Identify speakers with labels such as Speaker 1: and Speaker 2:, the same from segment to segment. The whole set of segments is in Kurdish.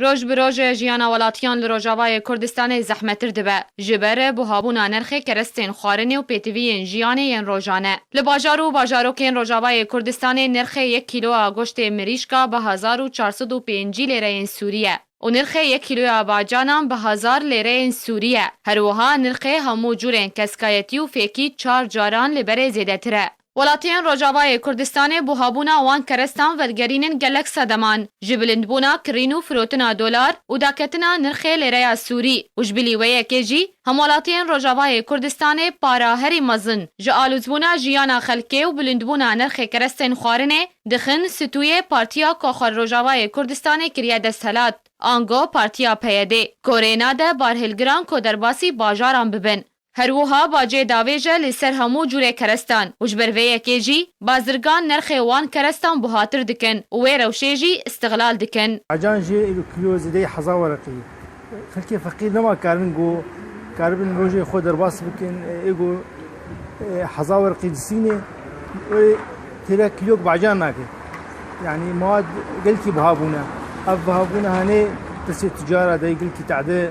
Speaker 1: Roj bi roj jiyana welatiyan li Rojavayê Kurdistanê zehmettir dibe ji ber buhabûna nirxê kerestên xwarinê û pêtiviyên jiyanê yên rojane. Li bajar û bajarokên Rojavayê Kurdistanê nirxê yek kîloya goştê mirîşka bi hezar û çar sed û pêncî lêreyên sûrî ye û nirxê yek kîloya bacanan bi hezar lêreyên sûrî ye. Her wiha nirxê hemû curên keskayetî û fêkî çar caran li berê zêdetir e. Welatiyên Rojavayê Kurdistanê buhabûna wan kerestan vegerînin gelek sedeman, ji bilindbûna kirîn û firotina dolar û daketina nirxê lêreya sûrî û ji bilî wê yekê jî hemwelatiyên Rojavayê Kurdistanê para herî mezin ji alûzbûna jiyana xelkê û bilindbûna nirxê kerestên xwarinê dixin stûyê Partiya ku xwe Rojavayê Kurdistanê kiriye desthilat ango Partiya PYDê korê nade barhilgiran ku derbasî bajaran bibin. Her wiha bacê davêj e li ser hemû curê kerestan û ji ber vê yekê jî bazirgan nerxê wan kerestan buhatir dikin û wê rewşê jî îstiglal dikin. Acan jî li kilo
Speaker 2: zêdeyî heza wereqî. Xelkê feqîr nema karibin ku karibin rojê xwe derbas bikin ê ku heza wereqî disînê wê têra kîlok bacan nake. Yanî mewad gelkî biha bûne. Ev bihabûna hanê pirsê ticara de yê gelkî tade.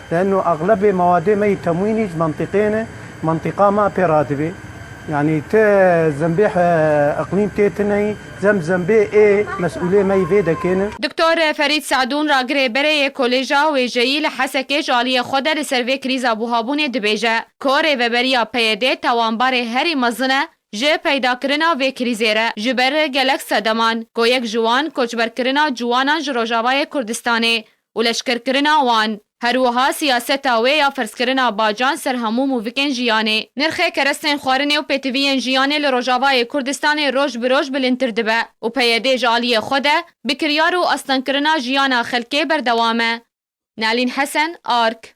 Speaker 3: Leeno exlebê mewadê me yê temwînî ji mentiqê ne, mentiqa me pê re dibê. Yanî ti zembê iqlîm tê tineyî, zemb zembê ê mesûlê me yî vê dekê ne. Doktor Ferîd
Speaker 1: Se'dûn ragirê berê yê Kolêja Wêjeyî li Hesekê ji aliyê xwe de li ser vê krîza buhabûnê dibêje ku rêveberiya PYD'ê tawanbarê herî mezin e ji peydakirina vê krîzê re ji ber gelek sedeman ku yek ji wan koçberkirina ciwanan ji Rojavayê Kurdistanê û leşkerkirina wan, her wiha siyaseta wê ya ferzkirina bacan ser hemû mûvikên jiyanê. Nirxê kerestên xwarinê û pêtiviyên jiyanê li Rojavayê Kurdistanê roj bi roj bilindtir dibe û PYD ji aliyê xwe de bi kiryar û astengkirina jiyana xelkê berdewam e. Nalîn Hesen, ark.